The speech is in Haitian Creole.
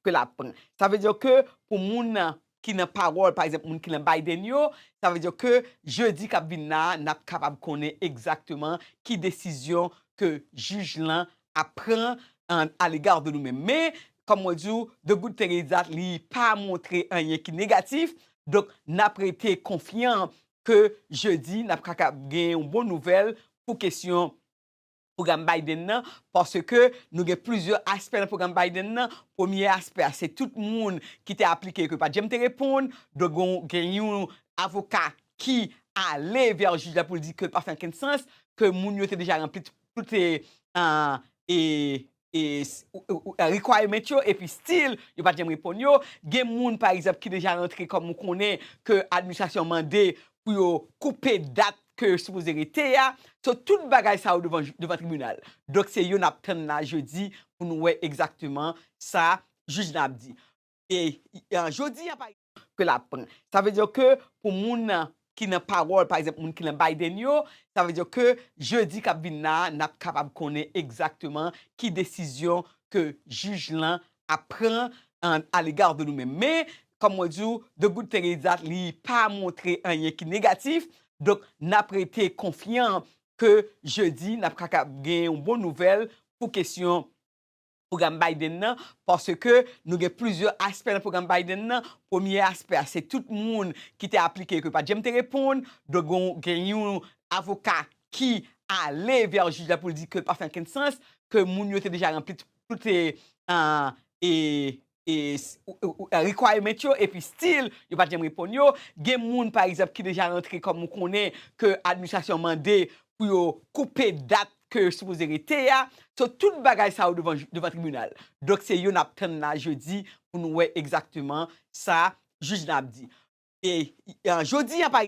Ke lap pran. Sa vle di ke pou moun nan ki nan pawòl pa egzanp moun ki nan Biden yo, sa vle di ke jedi kap vin la a nap kapab konnen egzakteman ki desizyon ke jij lan ap pran a l'egard de nou menm. Men, kòm mwen di w, the good thing is that li pa montre anyen ki negatif, donk nap rete konfyan ke jedi nap kakab gen yon bon nouvèl pou kesyon pwogram Biden nan, paske nou gen plizyè aspè nan pwogram Biden nan, premye aspè a se tout moun ki te aplike yo ke yo pat janm te reponn, donk gen yon avoka ki ale vè jij la pou l di ke l pa fè ankenn sans, ke moun yo te deja ranpli tout requirement yo epi still yo pat janm reponn yo. Gen moun pa egzanp ki deja rantre kòm ou konnen ke administrasyon mande pou yo koupe dat ke yo sipoze rete a. So tout bagay sa yo devan devan tribinal. Donk se yo nap tann la jodi pou nou wè egzakteman sa jij la ap di. E jodi a pa. ke lap pran. Sa vle di ke pou moun ki nan pawòl, pa egzanp, moun ki nan Biden yo, sa vle di ke jedi kap vin la a, nap kapab konnen egzakteman ki desizyon ke jij lan ap pran a l'egard de nou menm. Men, kòm mwen di w, the good thing is that li pa montre anyen ki negatif, donk nap rete konfyan ke jedi nap ka gen yon bon nouvèl pou kesyon pwogram Biden nan, paske nou gen plizyè aspè nan pwogram Biden nan, premye aspè a se tout moun ki te aplike yo ke pat janm te reponn, donk gen yon avoka ki ale vè jij la pou l di ke l pa fè ankenn sans, ke moun yo te deja ranpli tout requirement yo epi still yo pat janm reponn yo, gen moun pa egzanp ki deja rantre kòm ou konnen ke administrasyon mande pou yo koupe dat ke yo sipoze rete a, so tout bagay sa yo devan tribinal. Donk se yo nap tann la jodi pou nou wè egzakteman sa jij la ap di. E jodi a pa.